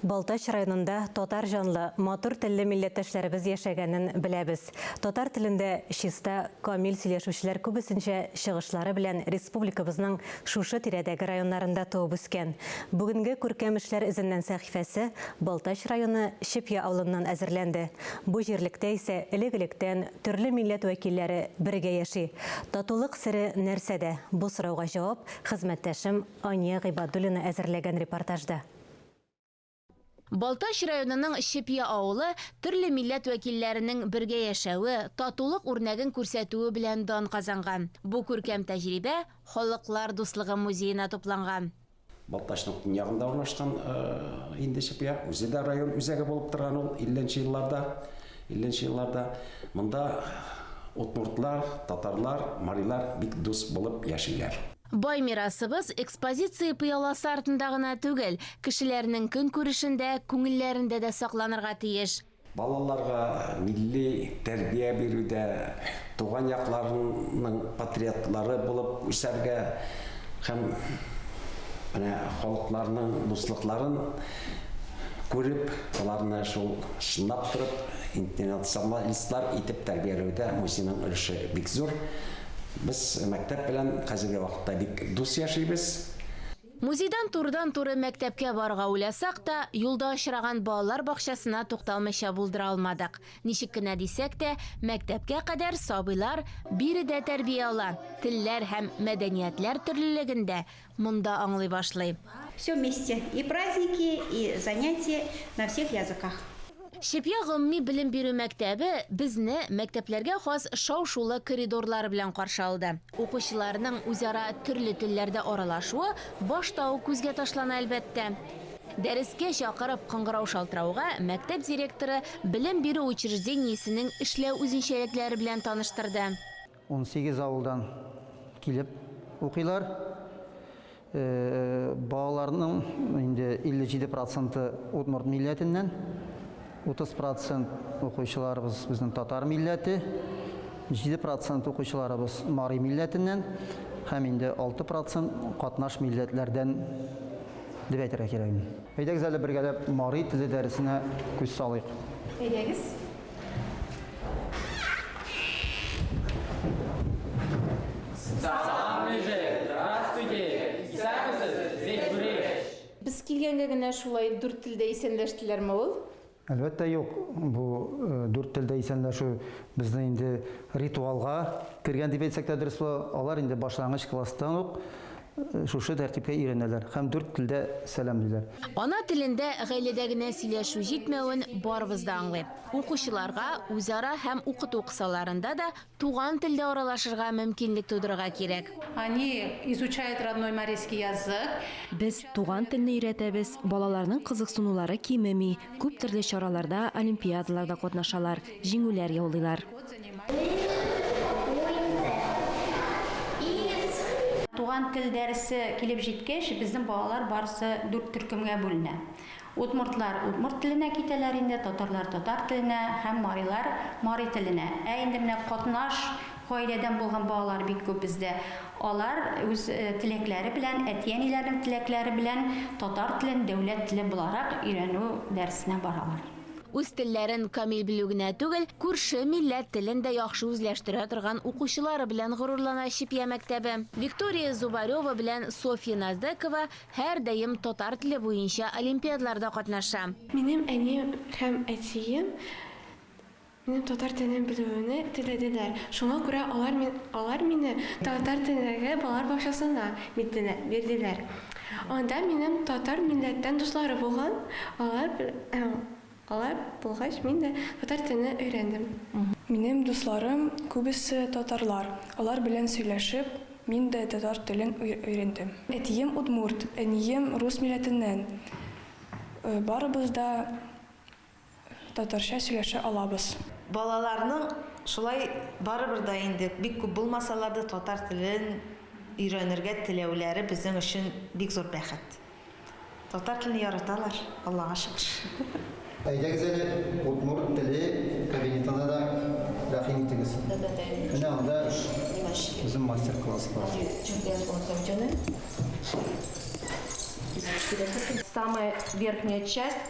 Балтач районында татар җанлы, матур телле милләттәшләребез яшәгәнен беләбез. Татар телендә чиста, камил сөйләшүчеләр күбесенчә чыгышлары белән республикабызның шушы тирәдәге районнарында туып үскән. Бүгенге Күркәм эшләр эзеннән сәхифәсе Балтач районы Чепья авылыннан әзерләнде. Бу җирлектә исә элек-электән төрле милләт вәкилләре бергә яши. Татулык сере нәрсәдә? Бу сорауга җавап хезмәттәшем Ания Гыйбадуллина әзерләгән репортажда. Балтач районының Чепья авылы төрле милләт вәкилләренең бергә яшәве, татулык үрнәген күрсәтүе белән дан казанган. Бу күркәм тәҗрибә Халыклар дуслыгы музеена тупланган. Балтачның төньягында урнашкан инде Чепья. Үзе дә район үзәге булып торган ул 50 нче елларда. 50 нче елларда монда удмуртлар, татарлар, марилар бик дус булып яшиләр. Бай мирасыбыз экспозиция пыяласы артында гына түгел, кешеләрнең көнкүрешендә, күңелләрендә дә сакланырга тиеш. Балаларга милли тәрбия бирүдә, туган якларының патриотлары булып үсәргә һәм менә халыкларның дуслыкларын күреп, аларны шул чынлап торып, интернационалистлар итеп тәрбияләүдә музейның өлеше бик зур. Без мәктәп белән хәзерге вакытта бик дус яшибез. Музейдан турыдан-туры мәктәпкә барырга уйласак та, юлда очраган балалар бакчасына тукталмыйча булдыра алмадык. Ничек кенә дисәк тә, мәктәпкә кадәр сабыйлар биредә тәрбия ала, телләр һәм мәдәниятләр төрлелегендә Монда аңлый башлый. Все вместе и праздники и занятия на всех языках. Чепья гомуми белем бирү мәктәбе безне мәктәпләргә хас шау-шулы коридорлары белән каршы алды. Укучыларның үзара төрле телләрдә аралашуы башта ук күзгә ташлана, әлбәттә. Дәрескә чакырып кыңгырау шалтырауга, мәктәп директоры белем бирү учреждениесенең эшләү үзенчәлекләре белән таныштырды. Унсигез авылдан килеп укыйлар. Балаларның инде 57 проценты удмурт милләтеннән, 30 процент укучыларыбыз безнең татар милләте, 7 процент укучыларыбыз мари милләтеннән һәм инде 6 процент катнаш милләтләрдән дип әйтергә кирәк. Әйдәгез әле бергәләп мари теле дәресенә күз салыйк. Әйдәгез. Без килгәнгә генә шулай дүрт телдә исәнләштеләрме ул? Әлбәттә юк. Бу дүрт телдә исәнләшү безнең инде ритуалга кергән дип әйтсәк тә дөрес була. Алар инде башлангыч класстан ук шушы тәртипкә өйрәнәләр һәм дүрт телдә сәламлиләр. Ана телендә гаиләдә генә сөйләшү җитмәвен барыбыз да аңлыйм. Укучыларга үзара һәм укыту кысаларында да туган телдә аралашырга мөмкинлек тудырырга кирәк. Они изучают родной марийский язык. Без туган телне өйрәтәбез, балаларның кызыксынулары кимеми, күп төрле чараларда, олимпиадаларда катнашалар, җиңүләр яулыйлар. Туган тел дәресе килеп җиткәч, безнең балалар барысы дүрт төркемгә бүленә. Удмуртлар удмурт теленә китәләр инде, татарлар татар теленә һәм марилар мари теленә. Ә инде менә катнаш гаиләдән булган балалар бик күп бездә. Алар үз теләкләре белән, әти-әниләренең теләкләре белән татар телен дәүләт теле буларак өйрәнү дәресенә баралар. Үз телләрен камил белү генә түгел, күрше милләт телен дә яхшы үзләштерә торган укучылары белән горурлана Чепья мәктәбе. Виктория Зубарева белән Софья Наздекова һәрдаим татар теле буенча олимпиадларда катнаша. Минем әнием һәм әтием минем татар телен белүемне теләделәр, шуңа күрә алар алар мине татар телендәге балалар бакчасына бирделәр. Анда минем татар милләттән дуслары булган, алар алар булгач мин дә татар телен өйрәндем. Минем дусларым күбесе татарлар, алар белән сөйләшеп, мин дә татар телен өйрәндем. Әтием удмурт, әнием рус милләтеннән. Барыбыз да Татарча сөйләшә алабыз. Балаларның шулай барыбер да инде бик күп булмасалар да татар телен өйрәнергә теләүләре безнең өчен бик зур бәхет. Татар телен яраталар, Аллага шөкер. Әйдәгез әле удмурт теле кабинетына да рәхим итегез. Менә анда үзем мастер класс бар. Самая верхняя часть.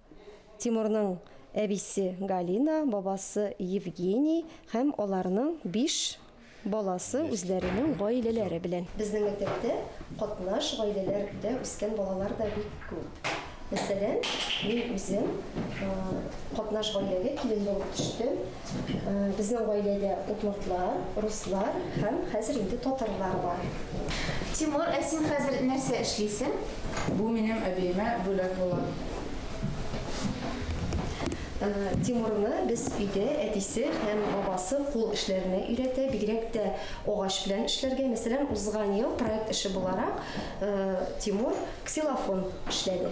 Тимурның әбисе Галина, бабасы Евгений һәм аларның биш баласы үзләренең гаиләләре белән. Безнең мәктәптә катнаш гаиләләрдә үскән балалар да бик күп. Мәсәлән, мин үзем катнаш гаиләгә килен булып төштем. Безнең гаиләдә удмуртлар, руслар һәм хәзер инде татарлар бар. Тимур, ә син хәзер нәрсә эшлисең? Бу минем әбиемә бүләк була. Тимурны без өйдә әтисе һәм бабасы кул эшләренә өйрәтә, бигрәк тә агач белән эшләргә. Мәсәлән, узган ел проект эше буларак Тимур ксилофон эшләде.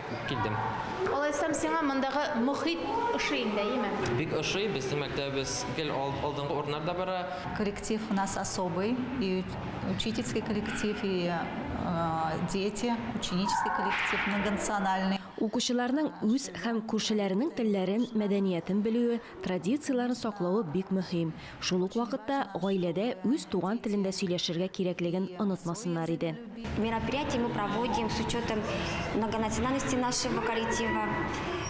Килдем. Алайсам сиңа мондагы мохит ошый инде, әйеме? Бик ошый, безнең мәктәбебез гел алдынгы урыннарда бара. Коллектив у нас особый, и учительский коллектив, и дети, ученический коллектив, многонациональный. Укучыларның үз һәм күршеләренең телләрен, мәдәниятен белүе, традицияләрен саклавы бик мөһим. Шул ук вакытта гаиләдә үз туган телендә сөйләшергә кирәклеген онытмасыннар иде. Мероприятие мы проводим с учетом многонациональности нашего коллектива.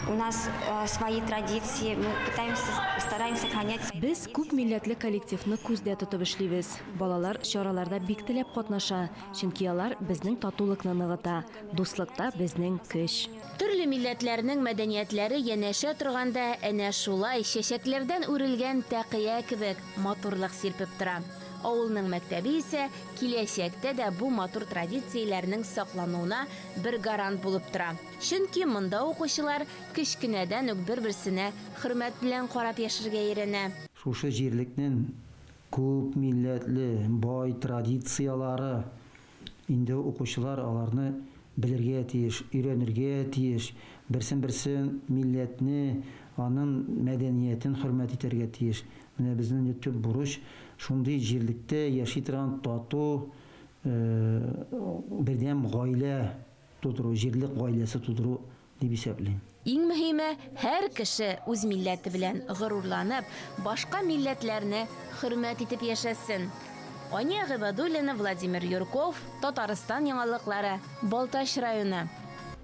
У нас э, свои традиции, мы пытаемся, стараемся сохранять. Без күп милләтле коллективны күздә тотып эшлибез. Балалар чараларда бик теләп катнаша, чөнки алар безнең татулыкны ныгыта, дуслыкта безнең көч. Төрле милләтләрнең мәдәниятләре янәшә торганда, әнә шулай, чәчәкләрдән үрелгән тәкыя кебек, матурлык сирпеп тора. Авылның мәктәбе исә киләчәктә дә бу матур традицияләрнең саклануына бер гарант булып тора. Чөнки монда укучылар кечкенәдән үк бер-берсенә хөрмәт белән карап яшәргә өйрәнә. Шушы җирлекнең күп милләтле, бай традицияләре Инде укучылар аларны белергә тиеш, өйрәнергә тиеш, берсен-берсе милләтне, анын мәдәниятен хөрмәт итәргә тиеш. Менә безнен инде төп бурыч, шундый җирлектә яши торган тату, бердәм гаилә тудыру, җирлек гаиләсе тудыру дип исәплим. Иң мөһиме, һәр кеше үз милләте белән горурланып, башка милләтләрне хөрмәт итеп яшәсен. Ания Гыйбадуллина, Владимир Юрков, Татарстан яңалыклары, Балтач районы.